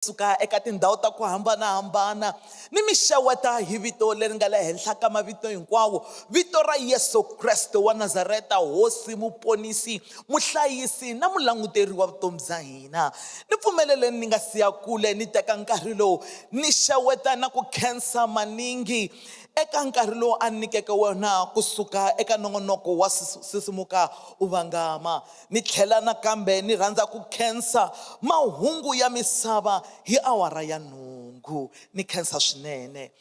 suka eka tindhawu ta ku hambanahambana ni mi xeweta hi vito leri nga le henhla ka mavito hinkwawo vito ra yesu kreste wa nazareta hosi muponisi muhlayisi na mulanguteri wa vutomi bya hina ni pfumeleleni ni nga siya kule ni teka nkarhi lowu ni xeweta na ku khensa maningi eka nkarhi lowu a ni nyikeke wona kusuka eka nongonoko wa sisimuka u vangama Ni tlhela nakambe ni rhandza ku khensa Mahungu ya Misava hi awara ya nhungu. Ni khensa swinene.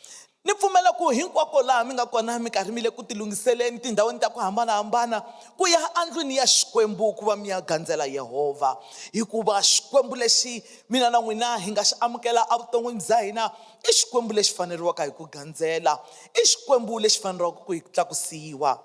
Ni pfumela ku hinkwako laha mi nga kona mi karhi mi le ku tilunghiseleni tindhawini ta ku hambana-hambana ku ya endlwini ya Xikwembu ku va mi ya gandzela Yehovha, hikuva Xikwembu lexi mina na n'wina hi nga xi amukela evuton'wini bya hina i Xikwembu lexi faneriwaka hi ku gandzela. I Xikwembu lexi faneriwaka ku tlakusiwa.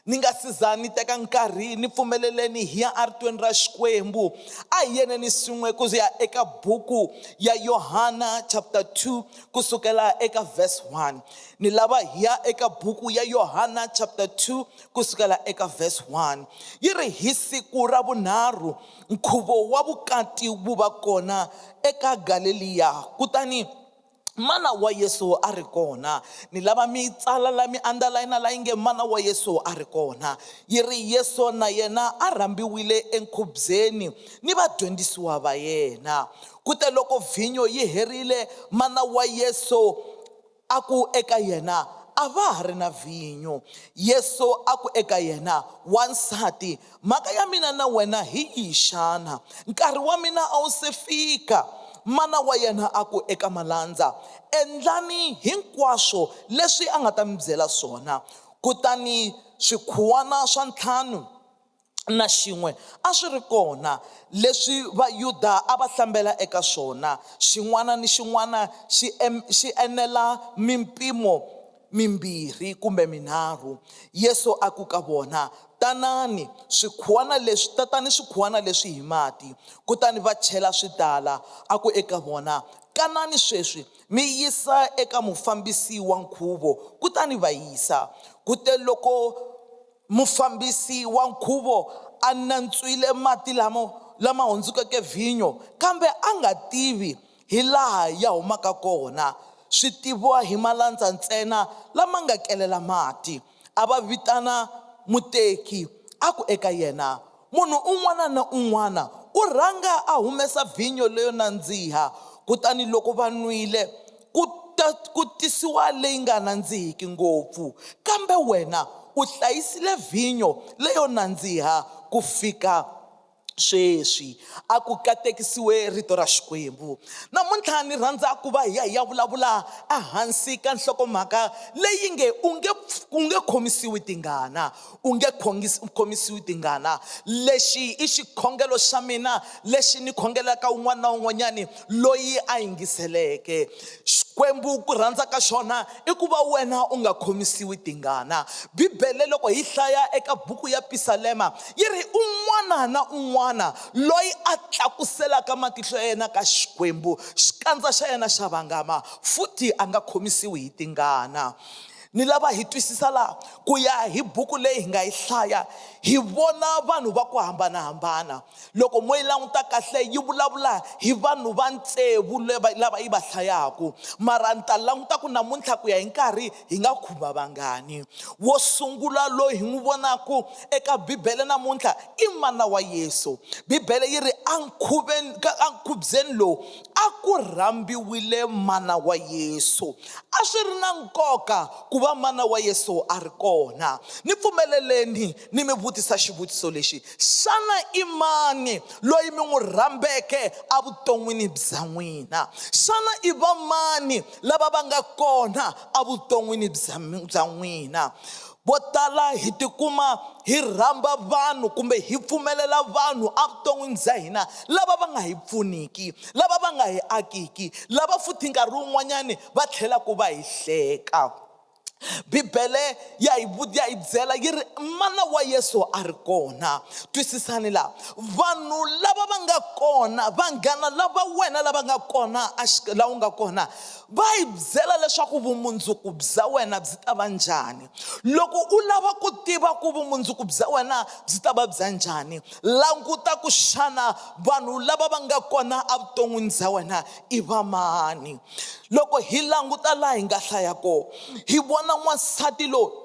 Ni nga si za ni teka nkarhi, ni pfumeleleni hi ya eRitweni ra Xikwembu. A hi yeneni swin'we ku ya eka buku ya Yohana chapter 2 ku sukela eka verse 1. Ni lava hi ya eka buku ya Yohana chapter 2 ku sukela eka verse 1. Yi ri hi siku ra vunharhu nkhuvo wa vukati wu va kona eka Galeliya, kutani Mana wa Yesu a ri kona. Ni lava mi yi tsala la mi andalayina la yi nge Mana wa Yesu a ri kona. Yi ri, Yesu na yena a rhambiwile enkhubyeni ni vadyondzisiwa va yena. Ku te loko vhinyo yi herile, mana wa Yesu a ku eka yena, A va ha ri na vhinyo. Yesu a ku eka yena, Wansati, Mhaka ya mina na wena hi yihi xana? Nkarhi wa mina a wu se fika. Mana wa yena a ku eka malandza, Endlani hinkwaswo leswi a nga ta mi byela swona. Kutani swikhuwana swa ntlhanu na xin'we a swi ri kona, leswi Vayuda a va hlambela eka swona, xin'wana ni xin'wana xi enela mimpimo mimbirhi kumbe minharhu, Yesu a ku ka vona, Tanani, swikhuwana leswi, tatani swikhuwana leswi hi mati. Kutani va chela swi tala. A ku eka vona, Kanani sweswi, mi yisa eka mufambisi wa nkhuvo. Kutani va yisa. Kuteloko mufambisi wa nkhuvo a nantswile mati lamo lama hundzukeke vhinyo, kambe a nga tivi hi laha ya humaka kona, swi tiviwa hi malandza ntsena lama nga kelela mati. A va vitana muteki, a ku eka yena, Munhu un'wana na un'wana u rhanga a humesa vhinyo leyo nandziha, kutani loko va nwile, ku ta ku tisiwa leyi nga nandzihiki ngopfu. Kambe wena u hlayisile vhinyo leyo nandziha ku fika sweswi a ku katekisiwe rito ra xikwembu namuntlha ni rhandza ku va hi ya hi ya vulavula ehansi ka nhlokomhaka leyi nge u nge u nge khomisiwi tingana u nge khomisiwi tingana lexi i xikhongelo xa mina lexi ni khongelaka un'wana na un'wanyani loyi a yingiseleke xikwembu ku rhandza ka xona i ku va wena u nga khomisiwi tingana bibele loko hi hlaya eka buku ya pisalema yi ri un'wana na un'wana loyi a tlakuselaka matihlo ya yena ka xikwembu xikandza xa yena xa vangama futhi a nga khomisiwi hi tingana ni lava hi twisisa laha ku ya hi buku leyi hi nga yi hlaya hi vona vanhu va ku hambanahambana Loko mo yi languta kahle yi vulavula hi vanhu va tsevu lava yi va hlayaku mara ni ta languta ku namuntlha ku ya hi nkarhi hi nga khumba vangani wo sungula loyi hi n'wi vonaku eka bibele namuntlha i mana wa yesu bibele yi ri a nkhuveni ka a nkhubyeni lowu a ku rhambiwile mana wa yesu a swi ri na nkoka ku va mana wa yesu a ri kona ni pfumeleleni ni mi vutisa xivutiso lexi, Xana i mani loyi mi n'wi rhambeke evuton'wini bya n'wina? Xana i vamani lava va nga kona evuton'wini bya bya n'wina? Vo tala hi tikuma hi rhamba vanhu kumbe hi pfumelela vanhu evuton'wini bya hina lava va nga hi pfuniki, lava va nga hi akiki, lava futhi nkarhi wun'wanyani va tlhelaku va hi hleka. bibele ya hi vu- ya hi byela yi ri mana wa yesu a ri kona twisisani laha vanhu lava va nga kona vanghana lava wena lava nga kona exi- laha u nga kona va hi byela leswaku vumundzuku bya wena byi ta va njhani loko u lava ku tiva ku vumundzuku bya wena byi ta va bya njhani languta ku xana vanhu lava va nga kona evuton'wini bya wena i vamani loko hi languta laha hi nga hlaya kona hi vona n'wansati loyi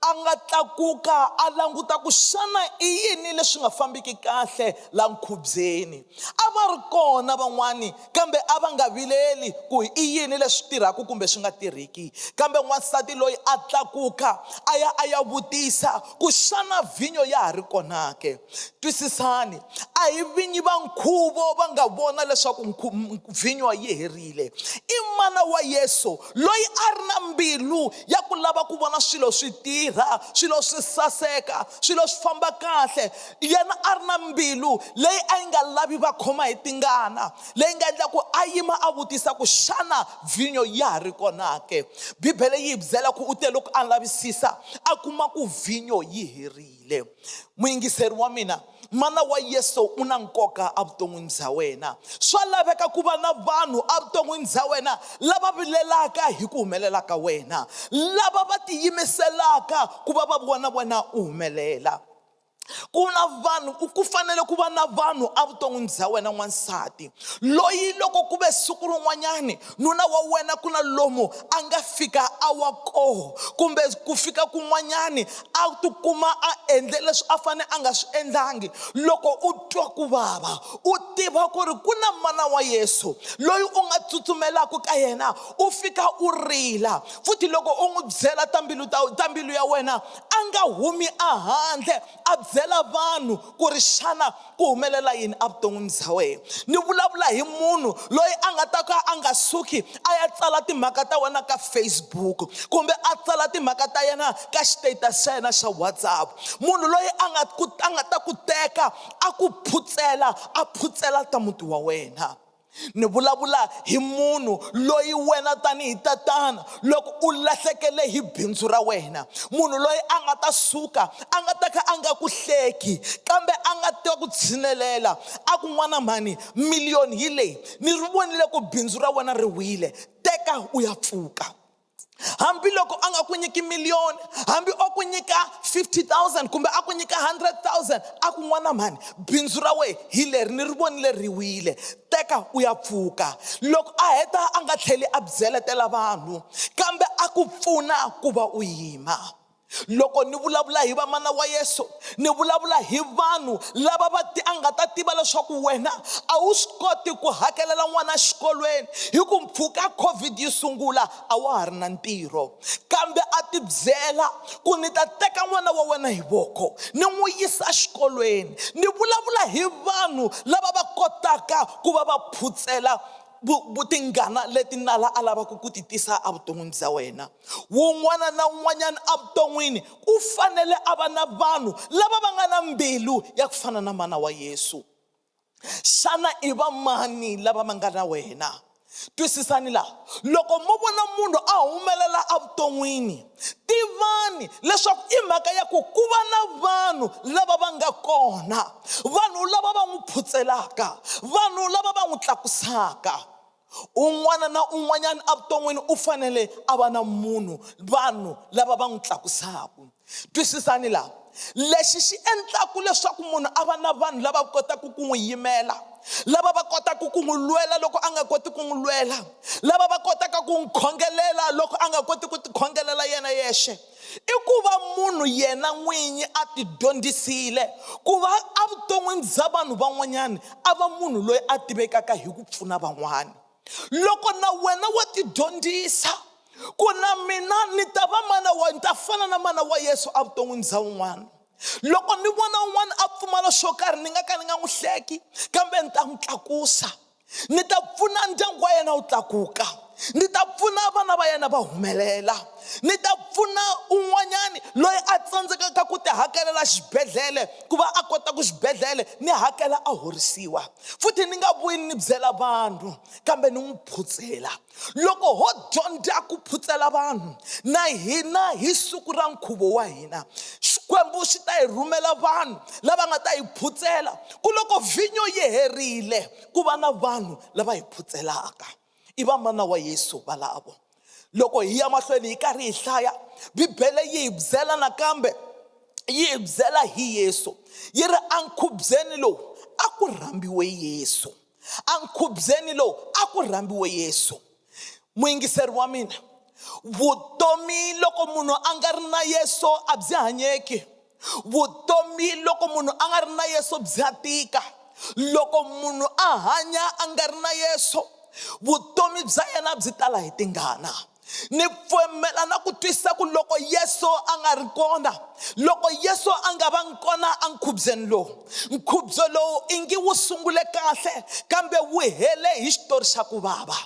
a nga tlakuka a languta ku xana i yini leswi nga fambiki kahle la nkhubyeni a va ri kona van'wani kambe a va nga vileli ku i yini leswi tirhaka kumbe swi nga tirhiki kambe n'wansati loyi a tlakuka a ya a ya vutisa ku xana vhinyo ya ha ri konake twisisani a hi vinyi va nkhuvo va nga vona leswaku vhinyo yi herile i mana wa yesu loyi a ri na mbilu ya ku lava ku vona swilo swi tirha swilo swi saseka swilo swi famba kahle yena a ri na mbilu leyi a yi nga lavi va khoma hi tingana leyi nga endla ku a yima a vutisa ku xana vhinyo ya ha ri kona ke bibele yi hi byela ku u te loko a lavisisa a kuma ku vhinyo yi herile le muyingiseri wa mina mana wa yesu u na nkoka evuton'wini bya wena swa laveka ku va na vanhu evuton'wini bya wena lava vilelaka hi ku humelela ka wena lava va tiyimiselaka ku va va vona wena u humelela ku na vanhu ku fanele ku va na vanhu evuton'wini bya wena n'wansati loyi loko ku ve siku rin'wanyani nuna wa wena ku na lomu a nga fika a wa koho kumbe ku fika kun'wanyani a tikuma a endle leswi a fane a nga swi endlangi loko u twa ku vava u tiva ku ri ku na mana wa yesu loyi u nga tsutsumelaku ka yena u fika u rila futhi loko u n'wi byela ta mbilu ta ta mbilu ya wena a nga humi a handle a byela vanhu ku ri xana ku humelela yini evuton'wini bya wena ni vulavula hi munhu loyi a nga ta ka a nga suki a ya tsala timhaka ta wena ka facebook kumbe a tsala timhaka ta yena ka xitatus xa yena xa whatsapp munhu loyi a nga ku a nga ta ku teka a ku phutsela a phutsela ta muti wa wena Ni vulavula hi munhu loyi wena tanihi tatana loko u lahlekele hi bindzu ra wena munhu loyi a nga ta suka a nga ta kha a nga ku hleki kambe a nga ta ku tshinelela a ku n'wana mhani miliyoni hi leyi ni ri vonile ku bindzu ra wena ri wile teka u ya pfuka hambiloko a nga ku nyiki miliyoni hambi o ku nyika 50000 kumbe a ku nyika 100000 a ku n'wana mhani bindzu ra wehe hi leri ni ri vonile ri wile teka u ya pfuka loko a heta a nga tlheli a byeletela vanhu kambe a ku pfuna ku va u yima Loko ni vulavula hi vamana wa Yesu, ni vulavula hi vanhu lava va ti a nga ta tiva leswaku wena a wu swi koti ku hakelela n'wana xikolweni hi ku mpfhuka covid yi sungula a wa ha ri na ntirho kambe a ti byela ku ni ta teka n'wana wa wena hi voko ni n'wi yisa xikolweni ni vulavula hi vanhu lava va kotaka ku va va phutsela vutingana leti nala a lavaka ku ti tisa evuton'wini bya wena Wun'wana na wun'wanyana evuton'wini u fanele a va na vanhu lava va nga na mbilu ya ku fana na mana wa Yesu. Xana i vamani lava va nga na wena? Twisisani laha, loko mo vona munhu a humelela evuton'wini, tivani leswaku i mhaka ya ku ku va na vanhu lava va nga kona, vanhu lava va n'wi phutselaka, vanhu lava va n'wi tlakusaka. Un'wana na un'wanyana evuton'wini u fanele a va na munhu, vanhu lava va n'wi tlakusaka. Twisisani laha, lexi xi endlaka leswaku munhu a va na vanhu lava kotaka ku n'wi yimela, lava va kotaka ku n'wi lwela loko a nga koti ku n'wi lwela, lava va kotaka ku n'wi khongelela loko a nga koti ku tikhongelela yena yexe, i ku va munhu yena n'winyi a ti dyondzisile ku va evuton'wini bya vanhu van'wanyana a va munhu loyi a tivekaka hi ku pfuna van'wana loko na wena wa ti dyondzisa ku na mina ni ta va mana wa ni ta fana na mana wa yesu evuton'wini bya un'wana loko ni vona un'wana a pfumala xo karhi ni nga ka ni nga n'wi hleki kambe ni ta n'wi tlakusa ni ta pfuna ndyangu wa yena wu tlakuka ni ta pfuna vana va yena va humelela ni ta pfuna un'wanyani loyi a tsandzekaka ku ti hakelela xibedhlele ku va a kota ku xibedhlele ni hakela a horisiwa futhi ni nga vuyi ni byela vanhu kambe ni n'wi phutsela loko ho dyondza ku phutsela vanhu na hina hi siku ra nkhuvo wa hina xikwembu xi ta hi rhumela vanhu lava nga ta hi phutsela ku loko vhinyo yi herile ku va na vanhu lava hi phutselaka i vamana wa yesu valavo loko hi ya mahlweni hi karhi hi hlaya bibele yi hi byela nakambe yi hi byela hi yesu yi ri enkhubyeni lowu a ku rhambiwe yesu enkhubyeni lowu a ku rhambiwe yesu muyingiseri wa mina vutomi loko munhu a nga ri na yesu a byi hanyeki vutomi loko munhu a nga ri na yesu bya tika loko munhu a hanya a nga ri na yesu vutomi bya yena byi tala hi tingana ni pfumela na ku twisisa ku loko yesu a nga ri kona loko yesu a nga va ngi kona enkhubyeni lowu nkhubyo lowu i ngi wu sungule kahle kambe wu hele hi xitori xa ku vava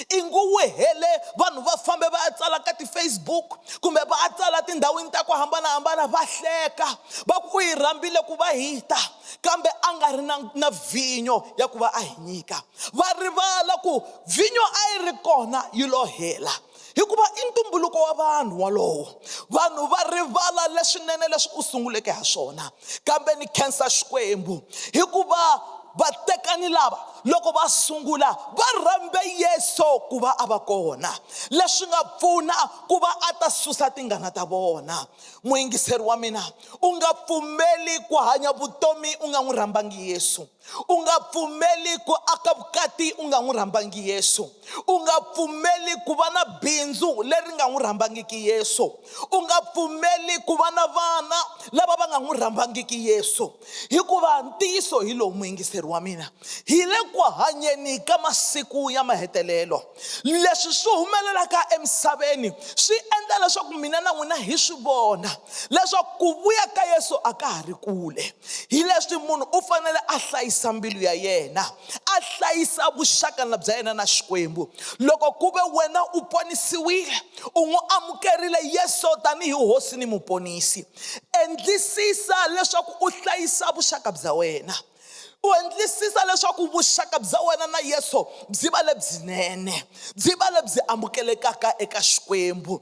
i ngi wu hele vanhu va fambe va ya tsala ka ti-facebook kumbe va ya tsala tindhawini ta ku hambanahambana va hleka va ku u yi rhambile ku va hi ta kambe a nga ri na na vhinyo ya ku va a hi nyika va rivala ku Vhinyo a yi ri kona yi lo hela, hikuva i ntumbuluko wa vanhu wolowo. Vanhu va rivala leswinene leswi u sunguleke ha swona. Kambe ni khensa Xikwembu, hikuva vatekani lava loko va sungula va rhambe Yesu ku va a va kona, leswi nga pfuna ku va a ta susa tingana ta vona. Muyingiseri wa mina, u nga pfumeli ku hanya vutomi u nga n'wi rhambangi Yesu. u nga pfumeli ku aka vukati u nga n'wi rhambangi yesu u nga pfumeli ku va na bindzu leri nga n'wi rhambangiki yesu u nga pfumeli ku va na vana lava va nga n'wi rhambangiki yesu hikuva ntiyiso hi lowu muyingiseri wa mina hi le ku hanyeni ka masiku ya mahetelelo leswi swi humelelaka emisaveni swi endla leswaku mina na n'wina hi swi vona leswaku ku vuya ka yesu a ka ha ri kule hi leswi munhu u fanele a hlayisa mbilu ya yena a hlayisa vuxaka na bya yena na xikwembu loko ku ve wena u ponisiwile u n'wi amukerile yesu tanihi hosi ni muponisi endlisisa leswaku u hlayisa vuxaka bya wena u endlisisa leswaku vuxaka bya wena na yesu byi va lebyinene byi va lebyi amukelekaka eka xikwembu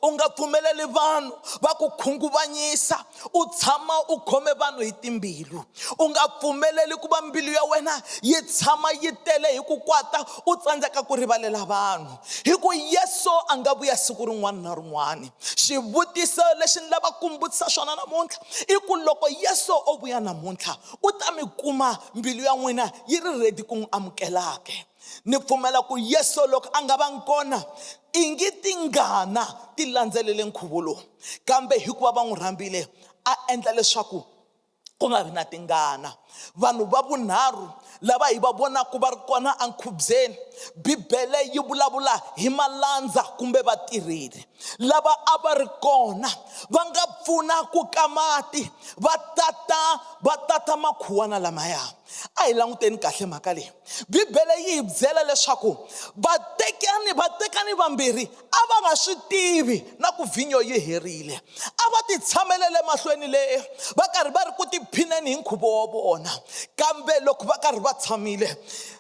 u nga pfumeleli vanhu va ku khunguvanyisa u tshama u khome vanhu hi timbilu u nga pfumeleli ku va mbilu ya wena yi tshama yi tele hi ku kwata u tsandzeka ku rivalela vanhu hi ku yesu a nga vuya siku rin'wana na rin'wana xivutiso lexi ni lava ku vutisa xona namuntlha i ku loko yesu o vuya namuntlha u ta mi kuma mbilu ya n'wina yi ri redi ku n'wi amukelaka ni pfumela ku yesu loko a nga vangi kona i ngi tingana ti landzelele nkhuvo lowu kambe hikuva va n'wi rhambile a endla leswaku ku nga vi na tingana vanhu va vunharhu lava hi va vonaka va ri kona enkhubyeni bibele yi vulavula hi malandza kumbe vatirheli lava a va ri kona va nga pfuna ku ka mati va tata va tata makhuwana lamaya a hi languteni kahle mhaka leyi bibele yi hi byela leswaku vatekani vatekani vambirhi a va nga swi tivi na ku vhinyo yi herile a va ti tshamele le mahlweni le va karhi va ri ku tiphineni hi nkhuvo wa vona kambe loko va karhi va tshamile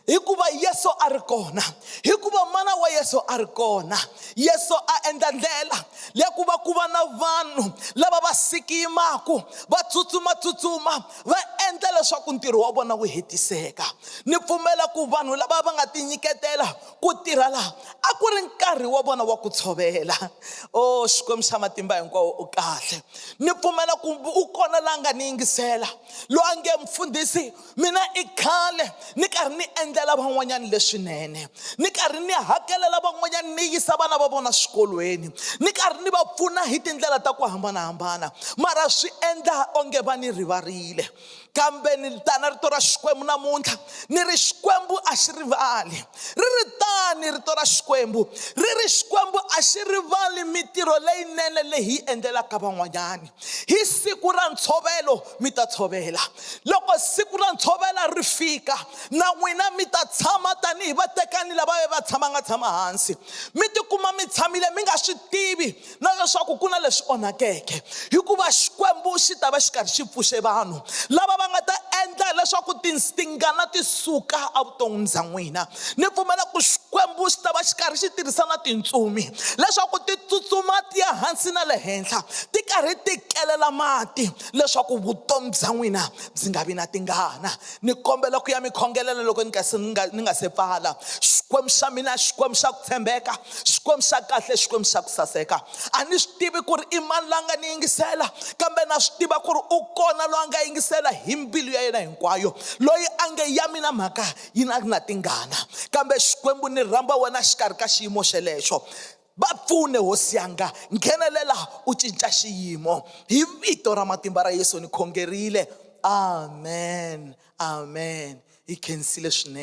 hikuva yesu a ri kona hikuva mana wa yesu a ri kona yesu a endla ndlela ya ku va ku va na vanhu lava va sikimaku va tsutsumatsutsuma va endla leswaku ntirho wa vona wu hetiseka ni pfumela ku vanhu lava va nga tinyiketela ku tirha laha a ku ri nkarhi wa vona wa ku tshovela o oh, xikwembu xa matimba hinkwawo u kahle ni pfumela ku u kona la nga ni yingisela loyi a nge mfundhisi mina i khale ni karhi ni endlela van'wanyana leswinene ni karhi ni hakelela van'wanyana ni yisa vana va vona swikolweni ni karhi ni va pfuna hi tindlela ta ku hambanahambana mara swi endla onge va ni rivarile kambe ni tana rito ra xikwembu namuntlha ni ri xikwembu a xi rivali ri ri tani rito ra xikwembu ri ri xikwembu a xi rivali mitirho leyinene leyi hi endlelaka van'wanyana hi siku ra ntshovelo mi ta tshovela loko siku ra ntshovelo ri fika na n'wina mi ta tshama tanihi vatekani lava ve va tshama nga tshama hansi mi tikuma mi tshamile mi nga swi tivi na leswaku ku na leswi onhakeke hikuva xikwembu xi ta va xi karhi xi pfuxe vanhu lava va nga ta endla leswaku tingana ti suka evuton'wini bya n'wina ni pfumela ku xikwembu xi ta va xi karhi xi tirhisa na tintsumi leswaku ti tsutsuma ti ya hansi na le henhla ti karhi ti kelela mati leswaku vutomi bya n'wina byi nga vi na tingana ni kombela ku ya mi khongelela loko ni nga se ni nga ni nga se pfala xikwembu xa mina xikwembu xa tshembeka xikwembu xa kahle xikwembu xa ku saseka a ni swi tivi ku ri i mani la nga ni yingisela kambe na swi tiva ku ri u kona loyi a nga yingisela hi mbilu ya yena hinkwayo loyi a nge ya mina mhaka yi na na tingana kambe xikwembu ni rhamba wena xikarhi ka xiyimo xelexo va pfune hosi yanga nghenelela u cinca xiyimo hi vito ra matimba ra yesu ni khongerile amen amen hi khensile swinene